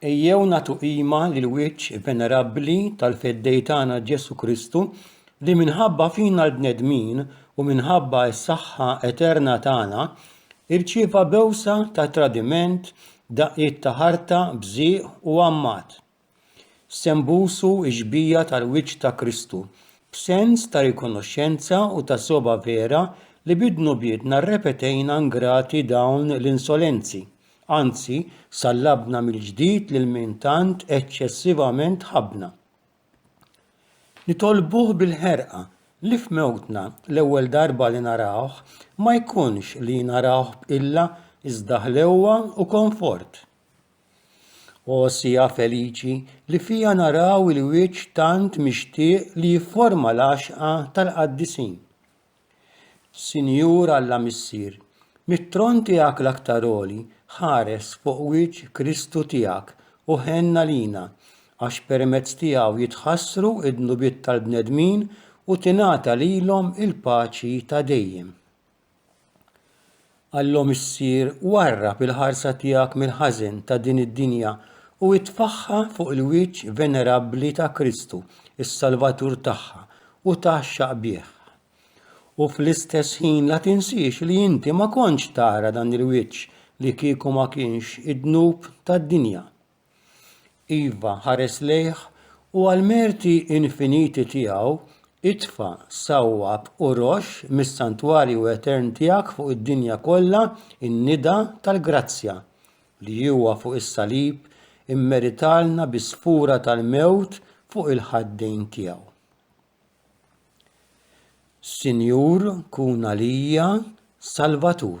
Ejjew nagħtu qima lill-wiċċ venerabbli tal-Feddej tagħna Ġesù Kristu li minħabba fina l-bnedmin u minħabba s-saħħa eterna tagħna irċieva bewsa ta' tradiment, daqqiet ta' ħarta, bżieq u għammat. Se nbusu x-xbija tal-wiċċ ta' Kristu b'sens ta' rikonoxxenza u ta' sogħba vera li bid-dnubietna rrepetejna ngrati dawn l-insolenzi. Anzi, sallabna mill-ġdid lil min tant eċċessivament ħabbna. Nitolbuh bil-ħerqa li f'mewtna l-ewwel darba li narawh ma jkunx li narawh b'qilla iżda ħlewwa u konfort. O siegħa feliċi li fiha naraw il-wiċċ tant mixtieq li jifforma l-għaxqa tal-qaddisin! Sinjur Alla Missier, mit-tron tiegħek l-aktar għoli, ħares fuq wiċċ Kristu tiegħek u ħenn għalina, għax permezz tiegħu jitħassru d-dnubiet tal-bnedmin u tingħata lilhom il-paċi ta' dejjem. Alla Missier, warrab il-ħarsa tiegħek mill-ħażen ta' din id-dinja u itfagħha fuq il-wiċċ venerabbli ta' Kristu, is-Salvatur tagħha, u tgħaxxaq bih. U fl-istess ħin la tinsiex li inti ma kontx tara dan il-wiċċ li kieku ma kienx id-dnub tad-dinja. Iva, ħares lejh, u għall-merti infiniti tiegħu, itfa' sawwab u roxx mis-santwarju etern tiegħek fuq id-dinja kollha n-nida tal-grazzja, li huwa fuq is-salib immeritalna bi sfura tal-mewt fuq il-ħaddejn tiegħu. Sinjur, kun għalija Salvatur.